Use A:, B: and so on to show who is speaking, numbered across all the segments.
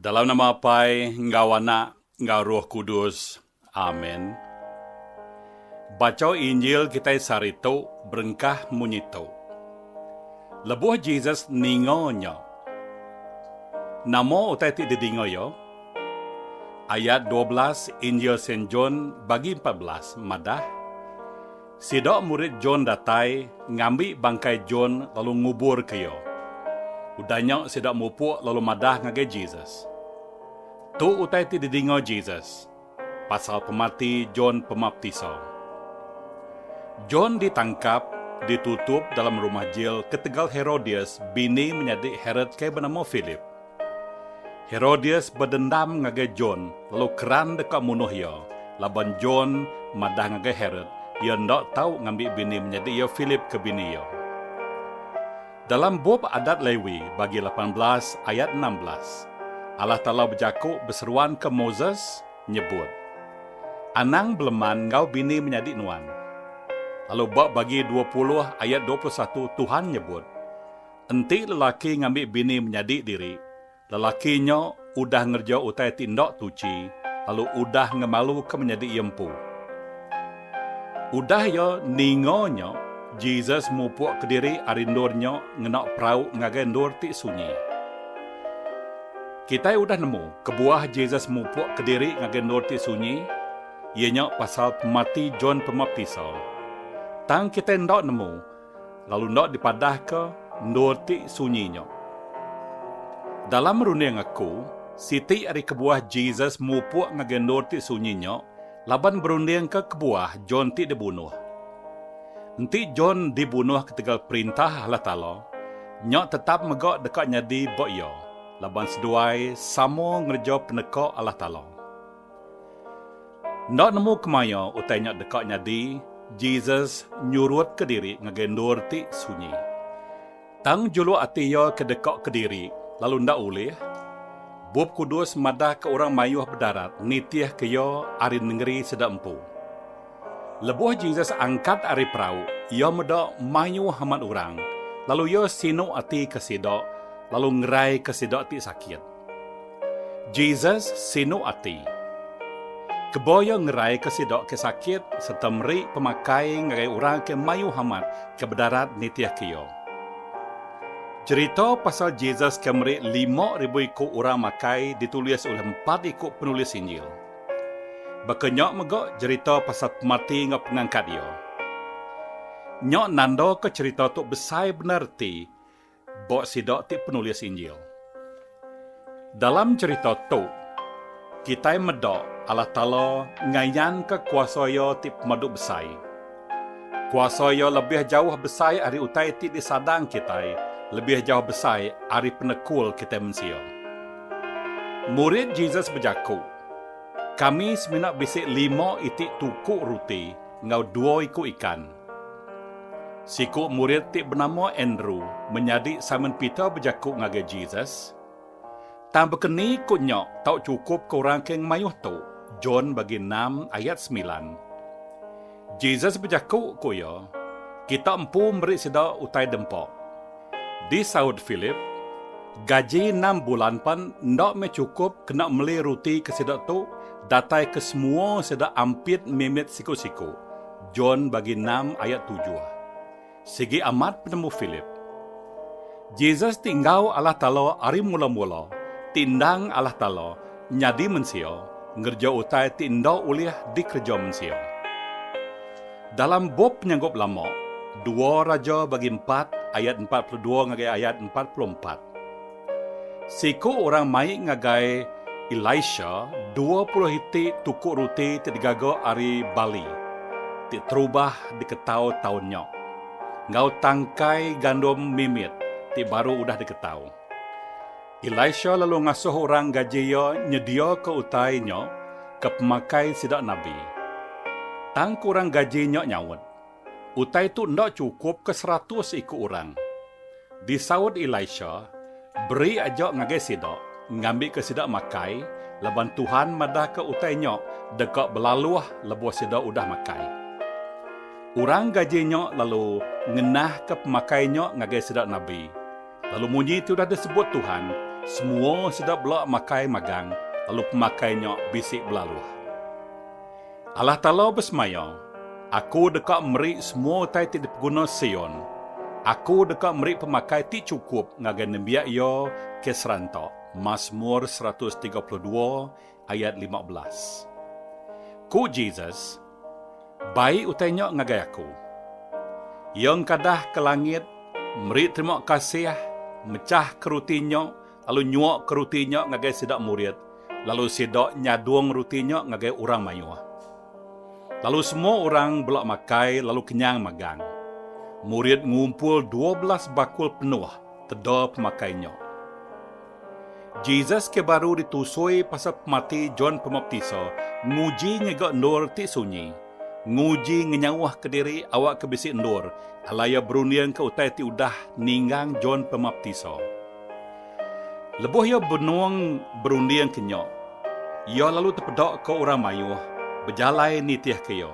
A: Dalam nama Apai enggau Anak enggau Roh Kudus. Amen. Bacha Injil kitai sehari tu berengkah munyi tu. Lebuh Jesus ninga nya. Nama utai ti didinga iya? Ayat dua belas Injil Saint John bagi empat belas madah, Sida murid John datai ngambi bangkai John lalu nguburka iya. Udah nya sida mupuk lalu madah ngagai Jesus. Tu utai ti didinga Jesus pasal pemati John Pemaptisa. John ditangkap, ditutup dalam rumah jil ketegal Herodias bini menyadi Herod ke benama Philip. Herodias bedendam ngagai John lalu keran deka munuh iya, laban John madah ngagai Herod iya enda tau ngambi bini menyadi iya Philip ke bini iya. Dalam bup Adat Lewi bagi lapan belas ayat enam belas, Allah Taala bejaku beseruanka Moses, nyebut, Anang beleman enggau bini menyadi nuan. Lalu ba bagi dua puluh ayat dua puluh satu Tuhan nyebut, Enti lelaki ngambi bini menyadi diri, lelaki nya udah ngereja utai ti enda tuchi lalu udah ngemaluka menyadi iya empu. Udah iya ninga nya, Jesus mupukka diri ari endur nya ngena perau ngagai endur ti sunyi. Kitai udah nemu kebuah Jesus mupukka diri ngagai endur ti sunyi, iya nya pasal pemati John Pemaptisa. Tang kitai enda nemu Lalu enda dipadahka endur ti sunyi nya. Dalam runding aku, siti ari kebuah Jesus mupuk ngagai endur ti sunyi nya laban berundingka kebuah John ti dibunuh. Enti John dibunuh ketegal perintah Allah Taala, nya tetap mega deka nyadi ba iya laban seduai sama ngereja peneka Allah Taala. Enda nemu kemaya utai nya deka nyadi, Jesus nyurutka diri ngagai endur ti sunyi. Tang juluk ati iya ke deka kediri lalu enda ulih? Bup Kudus madahka orang mayuh bedarat nitihka iya ari nengeri sida empu. Lebuh Jesus angkat ari perau, iya meda mayuh amat orang, lalu iya sinu atika sida lalu ngeraika sida ti sakit. Jesus sinu ati. Kebuah iya ngeraika sida ke sakit sereta meri pemakai ngagai orang ke mayuh amat ke bedarat nitihka iya. Cherita pasal Jesus ke meri lima ribu iku orang makai ditulis ulih empat iku penulis Injil. Baka nya mega cherita pasal pemati enggau pengangkat iya. Nya nandaka cherita tu besai bendar reti Ba sida ti penulis Injil. Dalam cherita tu, kitai meda Allah Taala ngayanka kuasa Iya ti pemadu besai. Kuasa Iya lebih jauh besai ari utai ti disadang kitai, lebih jauh besai ari penekul kitai mensia. Murid Jesus bejaku, Kami semina bisi lima iti tuku ruti enggau dua iku ikan. Siku murid ti benama Andrew menyadi Simon Peter bejaku ngagai Jesus, Tang baka ni ku nya tau chukupka orang ke ngemayuh tu? John bagi enam ayat semilan. Jesus bejaku ku iya, Kita empu meri sida utai dempa. Disaut Philip, Gaji enam bulan pan enda meh chukup kena meli ruti ke sida tu datai ke semua sida ampit mimit siku-siku. John bagi enam ayat tujuh. Sigi amat penemu Philip. Jesus ti enggau Allah Taala ari mula-mula ti endang Allah Taala nyadi mensia ngereja utai ti enda ulih dikereja mensia. Dalam bup Penyanggup Lama, dua Raja bagi empat ayat empat puluh dua ngagai ayat empat puluh empat. Seiku orang mai ngagai Elisha dua puluh iti tuku ruti ti digaga ari bali ti terubah diketau taun nya, enggau tangkai gandum mimit ti baru udah diketau. Elisha lalu ngasuh orang gaji iya nyediaka utai nya ke pemakai sida nabi. Tang ku orang gaji nya nyaut, Utai tu enda chukup ke seratus iku orang. Disaut Elisha, Beri aja ngagai sida, ngambika sida makai, laban Tuhan madahka utai nya deka belaluh lebuh sida udah makai. Orang gaji nya lalu ngenahka pemakai nya ngagai sida nabi, lalu munyi ti udah disebut Tuhan, semua sida bela makai magang, lalu pemakai nya bisi belaluh. Allah Taala besemaya, Aku deka meri semua utai ti dipeguna Sion. Aku deka meri pemakai ti chukup ngagai nembiak iya ke seranta. Masmur seratus tiga puluh dua ayat lima belas. Ku Jesus, Bai utai nya ngagai Aku. Iya engkadah ke langit, meri terima kasih, mechahka ruti nya, lalu nyuakka ruti nya ngagai sida murid, lalu sida nyadung ruti nya ngagai orang mayuh. Lalu semua orang bela makai lalu kenyang magang. Murid ngumpul dua belas bakul penuh teda pemakai nya. Jesus ke baru ditusui pasal pemati John Pemaptisa nguji ngiga endur ti sunyi, nguji ngenyauhka diri awakka bisi endur, alai iya berundingka utai ti udah ninggang John Pemaptisa. Lebuh iya benung berunding ke nya, iya lalu tepeda ka orang mayuh bejalai nitih ke iya.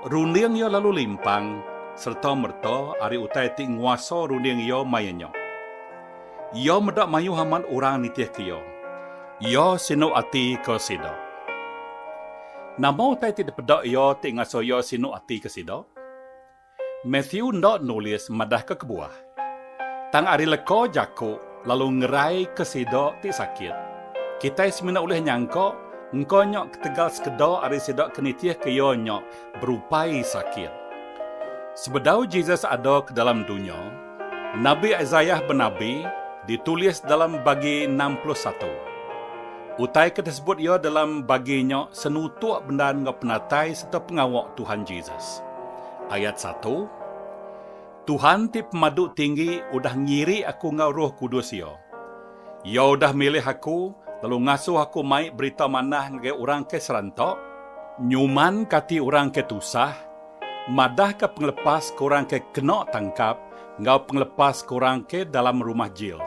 A: Runding iya lalu limpang sereta mereta ari utai ti nguasa runding iya maya nya. Iya meda mayuh amat orang nitih ke iya. Iya sinu ati ka sida. Nama utai ti dipeda iya ti ngasuh iya sinu ati ka sida? Matthew enda nulis madahka kebuah. Tang ari leka jaku lalu ngeraika sida ti sakit. Kitai semina ulih nyangka engka nya ketegal sekeda ari sida ke nitihka iya nya berupai sakit. Sebedau Jesus ada ke dalam dunya, Nabi Isaiah benabi ditulis dalam bagi enam puluh satu. Utai ke disebut iya dalam bagi nya senutuk bendar enggau penatai sereta pengawa Tuhan Jesus. Ayat satu, Tuhan ti Pemadu Tinggi udah ngiri aku enggau Roh Kudus Iya. Iya udah milih aku lalu ngasuh aku mai berita manah ngagai orang ke seranta, nyuman ke ati orang ke tusah, madahka pengelepas ke orang ke kena tangkap enggau pengelepas ke orang ke dalam rumah jil.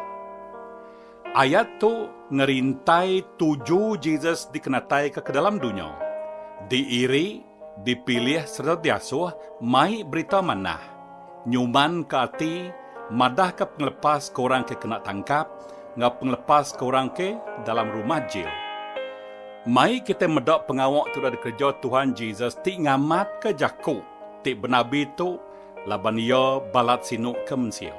A: Ayat tu ngerintai tuju Jesus dikenataika ke dalam dunya, diiri, dipilih sereta diasuh mai berita manah. Nyumanka ati, madahka pengelepas ke orang ke kena tangkap enggau pengelepas ke orang ke dalam rumah jil. Mai kitai meda pengawa ke udah dikereja Tuhan Jesus ti ngamatka jaku ti benabi tu laban Iya balat sinu ke mensia.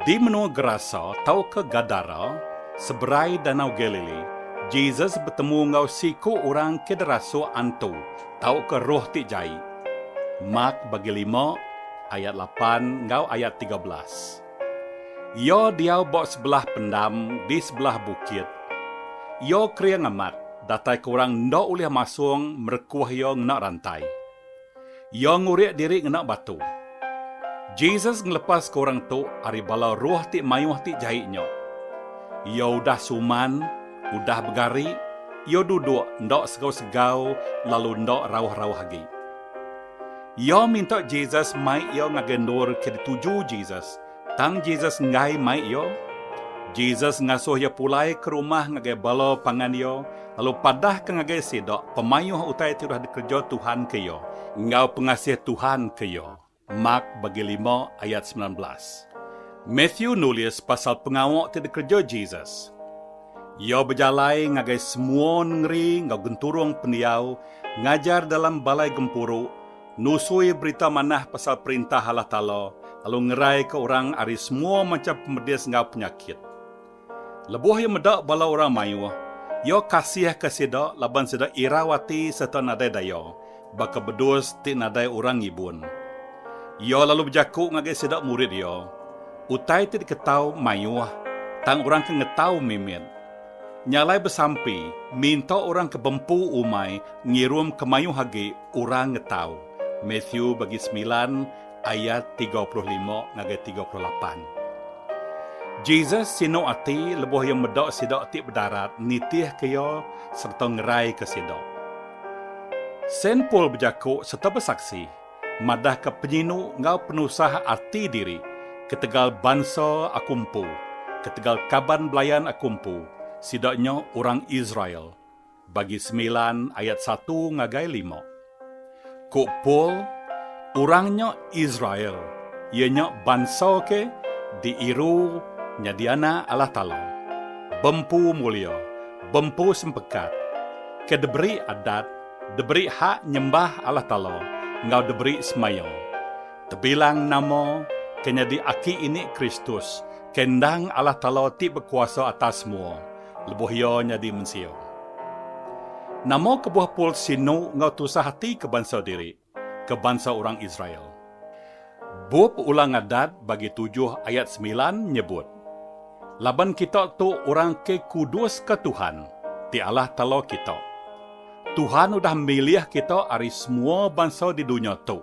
A: Di menua Gerasa tauka Gadara, seberai Danau Galili, Jesus betemu enggau siku orang ke derasuk antu Tauka roh ti jai. Mak bagi lima ayat lapan enggau ayat tiga belas. Iya diau ba sebelah pendam di sebelah bukit. Iya kering amat dataika orang enda ulih masung merekuh iya ngena rantai. Iya ngurik diri ngena batu. Jesus ngelepaska orang tu ari bala roh ti mayuh ti jai nya. Iya udah suman. Udah begari, iya duduk enda segau-segau lalu enda rauh-rauh agi. Iya minta Jesus mai iya ngagai endur ke dituju Jesus. Tang Jesus enggai mai iya. Jesus ngasuh iya pulai ke rumah ngagai bala pangan iya lalu padahka ngagai sida pemayuh utai ti udah dikereja Tuhan ke iya enggau pengasih Tuhan ke iya. Mark bagi lima ayat semilan belas. Matthew nulis pasal pengawa ti dikereja Jesus. Iya bejalai ngagai semua nengeri enggau genturung pendiau, ngajar dalam balai gempuru, nusui berita manah pasal Perintah Allah Taala, lalu ngeraika orang ari semua macham pemedis enggau penyakit. Lebuh iya meda bala orang mayuh, iya kasihka sida laban sida irau ati sereta nadai daya, baka bedus ti nadai orang ngibun. Iya lalu bejaku ngagai sida murid iya, Utai ti diketau mayuh, tang orang ke ngetau mimit. Nya alai besampi, minta orang ke bempu umai ngirumka mayuh agi orang ngetau. Matthew bagi semilan. ayat tiga puluh lima ngagai tiga puluh lapan. Jesus sinu ati lebuh iya meda sida ti bedarat nitihka iya sereta ngeraika sida. Saint Paul bejaku sereta besaksi madahka penyinu enggau penusah ati diri ketegal bansa aku empu, ketegal kaban belayan aku empu, sida nya orang Israel. Bagi semilan ayat satu ngagai lima. Ku Paul, orang nya Israel, iya nya bansa ke diiru nyadi anak Allah Taala, bempu mulia, bempu sempekat, ke diberi adat, diberi hak nyembah Allah Taala enggau diberi semaya. Tebilang nama ke nyadi aki ini Kristus, ke endang Allah Taala ti bekuasa atas semua, Lebuh iya nyadi mensia. Nama kebuah Paul sinu enggau tusah ati ke bansa diri, ke bansa orang Israel? Bup Ulang Adat bagi tujuh ayat semilan nyebut, Laban kita tu orang ke kuduska Tuhan, ti Allah Taala kita. Tuhan udah milih kita ari semua bansa di dunya tu,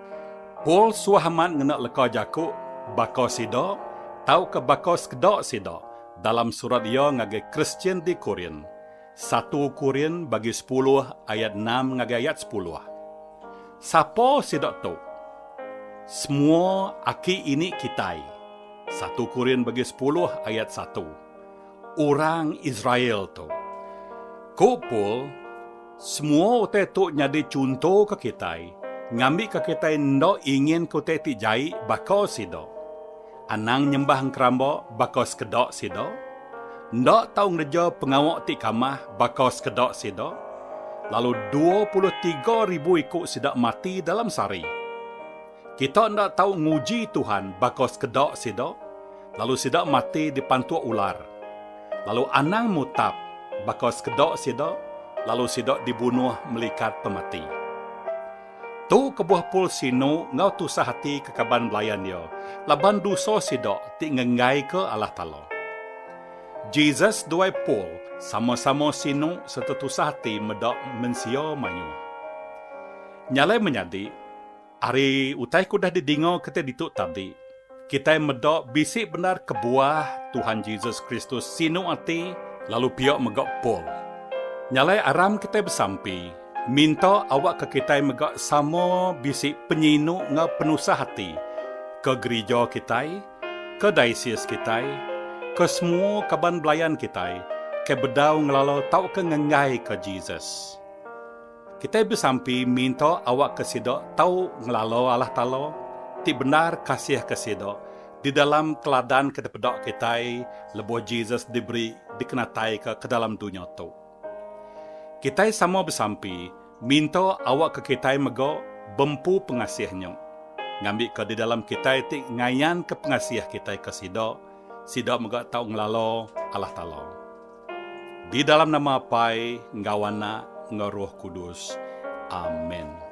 A: Paul suah amat ngena leka jaku baka sida tauka baka sekeda sida dalam surat iya ngagai Kristian di Korin, satu Korin bagi sepuluh ayat enam ngagai ayat sepuluh. Sapa sida tu? Semua aki ini kitai, satu Korin bagi sepuluh ayat satu. orang Israel tu. Ku Paul, Semua utai tu nyadi chunto ke kitai, ngambika kitai enda inginka utai ti jai baka sida. Anang nyembah engkeramba baka sekeda sida. Enda tau ngereja pengawa ti kamah baka sekeda sida. Lalu dua puluh tiga ribu iku sida mati dalam sehari. Kita enda tau nguji Tuhan baka sekeda sida, lalu sida mati dipantuk ular. Lalu anang mutap baka sekeda sida, lalu sida dibunuh melikat pemati. Tu kebuah Paul sinu enggau tusah ati ke kaban belayan iya laban dosa sida ti ngenggaika Allah Taala. Jesus duai Paul sama-sama sinu sereta tusah ati meda mensia mayuh. Nya alai menyadi, Ari utai ke udah didinga kitai ditu tadi, kitai meda bisi bendar kebuah Tuhan Jesus Kristus sinu ati lalu pia mega Paul. Nyalai aram kitai besampi minta awakka kitai mega sama bisi penyinu enggau penusah ati ke gerija kitai, ke daisis kitai, ke semua kaban belayan kitai ke bedau ngelala tauka ngenggaika Jesus. Kitai besampi minta awakka sida tau ngelala Allah Taala ti bendar kasihka sida di dalam teladan ke dipeda kitai lebuh Jesus diberi dikenataika ke dalam dunya tu. Kitai sama besampi minta awakka kitai mega bempu pengasih nya, ngambika di dalam kitai ti ngayanka pengasih kitai ke sida, sida mega tau ngelala Allah Taala. Di dalam nama Apai enggau Anak enggau Roh Kudus. Amen.